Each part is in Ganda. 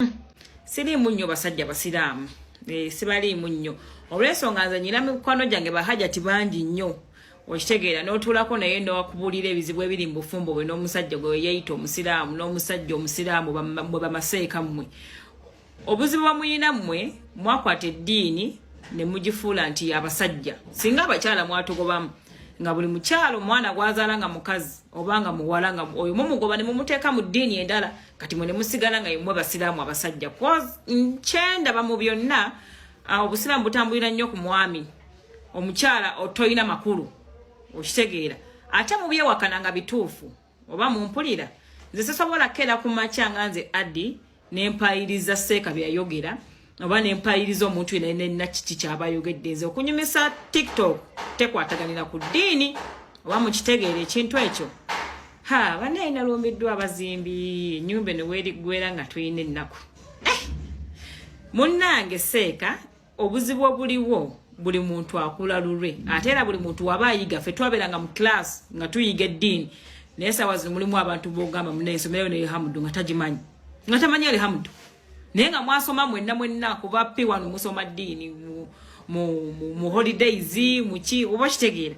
hmm. siriimu nnyo basajja basiraamu eh, sibaliimu nnyo olwensonga nze nyina mikwano gyange bahajati bangi nnyo okitegeera n'otuulako naye nowakubuulira ebizibu ebiri mu bufumbo bwe n'omusajja gwe weyeyita omusiraamu n'omusajja omusiraamu mwe bamaseeka mmwe obuzibu bamuyina mmwe mwakwata eddiini ne mugifuula nti yabasajja singa abakyala mwatugobamu nga buli mukyalo omwana gwazaala nga mukazi oba nga muwala nga oyo mumugoba ne mumuteeka mu ddiini endala kati mwe nemusigala nga yemwe basiraamu abasajja kyendaba mu byonna ah, obusiraamu butambulira nnyo ku mwami omukyala otolina makulu okitegeera ate mubyewakana nga bituufu oba mumpulira nze sisobola keera ku makya nga nze addi nempayiriza seeka byeyayogera oba nempayiriza omuntu yena nalina kiki kyabayogedde nze okunyumisa tiktok tekwataganira ku ddiini oba mukitegeera ekintu ekyo ha banaye nalumbiddwa abazimbi enyumba eno weriggwera nga tulina ennaku eh! munnange seeka obuzibu obuliwo buli muntu akula lulwe ate era buli muntu waba ayiga fe twabeeranga mu class nga tuyiga eddiini naye sawa zino mulimu abantu bogamba munaye ensomero neyo hamudu nga tagimanyi nga tamanyi ali hamudu naye nga mwasoma mwenna mwenna kuba pe wano musoma ddiini mu, mu, mu, mu holidays muki oba okitegeera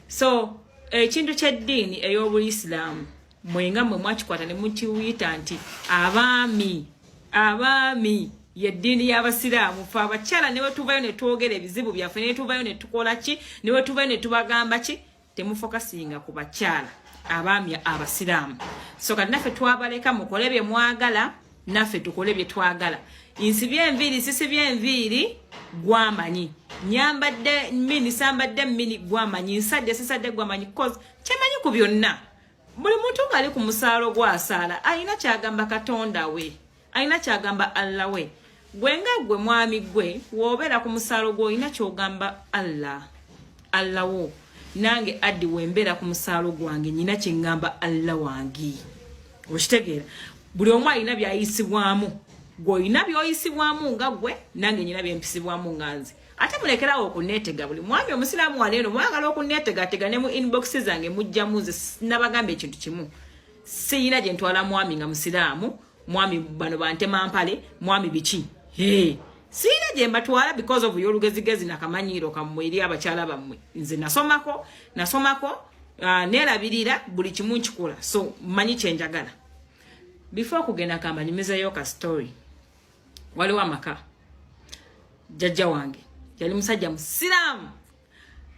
so ekintu eh, kyeddiini ey'obuisiraamu mwenga mwe mwakikwata ne mukiwuyita nti abaami abaami yeddiini y'abasiraamu fe abakyala ne bwetuvayo ne twogera ebizibu byaffe ne bwetuvayo ne tukola ki ne bwetuvayo ne tubagamba ki temufokasinga ku bakyala abaami abasiraamu so kati naffe twabaleka mukole bye mwagala naffe tukole bye twagala nsibye enviiri sisibye enviiri gwamanyi nyambadde mini sambadde mini gwamanyi nsadde sisadde gwamanyi cause kyemanyi ku byonna buli muntu ng'ali ku musaalo gwasaala alina kyagamba katonda we alina kyagamba allah we gwe nga gwe mwami gwe wobeera ku musaalo gwe olina kyogamba allah allah wo nange addi wembeera ku musaalo gwange nyina kyengamba allah wange okitegeera buli omu alina byayisibwamu gweolina byoyisibwamu nga gwe nange nyina byempisibwamu nga nze ate mulekerawo okunetega buli mwami omusiraamu waneeno mwagala okunetegatega ne mu inbox zange mujjamu nze nabagamba ekintu kimu siyina gyentwala mwami nga musiraamu mwami bano bantema mpale mwami biki hey. siina gye mbatwala because of yolugezigezi nakamanyiiro kammwe eri abakyala bammwe nze nasomako nasomako uh, nerabirira buli kimu nkikola so manyi kyenjagala before kugenda kamba nyumizeyo ka story waliwo amaka jajja wange yali musajja musiraamu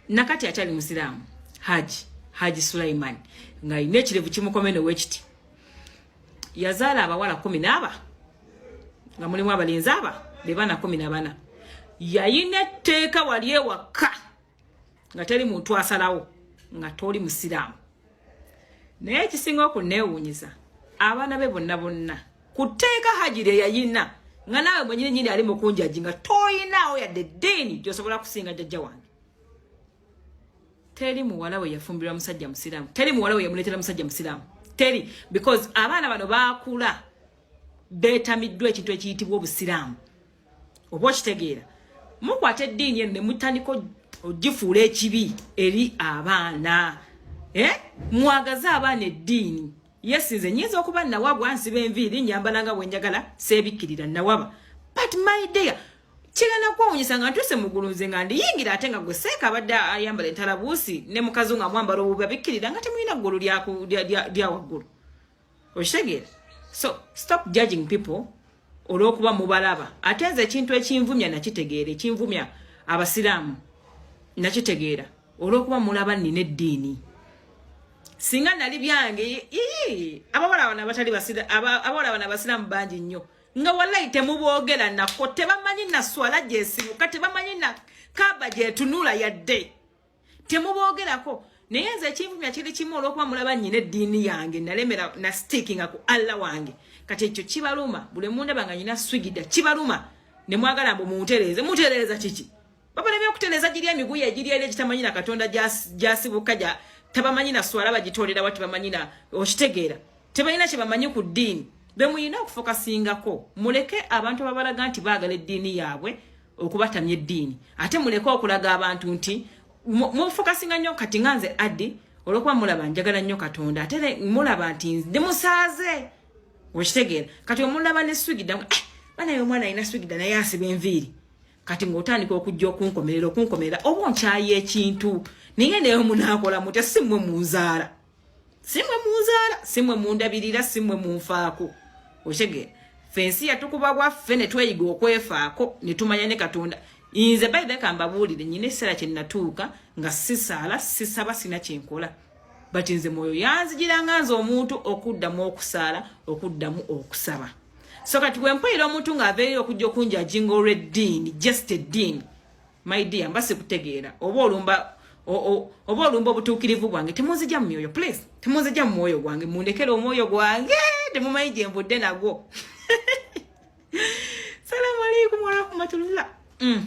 nakati akyali musiraamu haji haji sulaiman ng'alina ekirevu kimukome newekiti yazaala abawala kumi naaba nga mulimu abalenzi aba be baana kumi nabana yayina etteeka wali ewakka nga teri muntu asalawo nga toli musiraamu naye ekisinga okunneewuunyiza abaana be bonna bonna ku tteeka haji lye yayina nga naawe mwenyini nyini ali mukunjaji nga toyinaawo yadde ddiini gyosobola kusinga jajja wange teri muwala we yafumbirwa musajja musiraamu teri muwala we yamuleetera musajja musiraamu teri because abaana bano baakula beetamiddwa ekintu ekiyitibwa obusiraamu oba okitegeera mukwata eddiini eno ne mutandika ogifuula ekibi eri abaana eh? mwagaze abaana eddiini yesi nze nyinza okuba nawabwa nsiba enviiri nyambala nga bwenjagala seebikkirira nawaba but my dear kigenda kwewunyisa nga ntuuse mugulu nze nga ndiyingira ate nga gwe seeka abadde ayambala entalabuusi ne mukazi nga mwambala obubi abikkirira nga temulina ggulu lya waggulu okitegeera so stop judging people olwokuba mubalaba ate nze ekintu ekinvumya nakitegeera ekinvumya abasiraamu nakitegeera olwokuba mulaba nina eddiini singa nali byange abawala bano abatali abawala bano abasiraamu bangi nnyo nga walayi temuboogera nako tebamanyi naswala gyesibuka tebamanyi na kaba gyetunula yadde temuboogerako naye nze ekinvumya kiri kimu olwokuba mulaba nyina eddiini yange nalemera na stickinga ku allah wange kati ekyo kibaluma buli mundaba nga nyina swigida kibaluma ne mwagala mbu muntereeze mutereeza kiki babona byokutereeza giri emiguya egiri eri egitamanyi na katonda gyasibuka gya tabamanyi na swala bagitoolera wa tebamanyi na okitegeera tebalina kye bamanyi ku ddiini bemuyina okufokasingako muleke abantu ababalaga nti baagala eddiini yaabwe okubatamya eddiini ate muleke okulaga abantu nti mufokasinga nnyo kati nga nze addi olwokuba mulaba njagala nnyo katonda ate mulaba nti ndi musaaze okitegeera kati omulaba ne swigida eh, banaye omwana alina swigida naye asiba enviiri kati ng'otandika okujja okunkomerera okunkomerera oba onkyayi ekintu naye naye omunaakola mutya si mmwe munzaala simwe munzaala simwe mundabirira simwe munfaako okitegera fe ensi yatukuba bwaffe ne tweyiga okwefaako ne tumanya ne katonda inze bayidha kambabuulire nyina ekiseera kye nnatuuka nga sisaala sisaba sina kyenkola but nze mwoyo yanzijiranga nze omuntu okuddamu okusaala okuddamu okusaba so kati bwe mpulira omuntu ng'aveeyo okujja okunjajinga olw'eddiini just eddiini my dear mba sikutegeera oba olumba oba olumba obutuukirivu bwange temunzija mu myoyo please temunzija mu mwoyo gwange mundekere omwoyo gwange temumanyi gye nvudde nagwo salamu alaikum warahmatullah mm.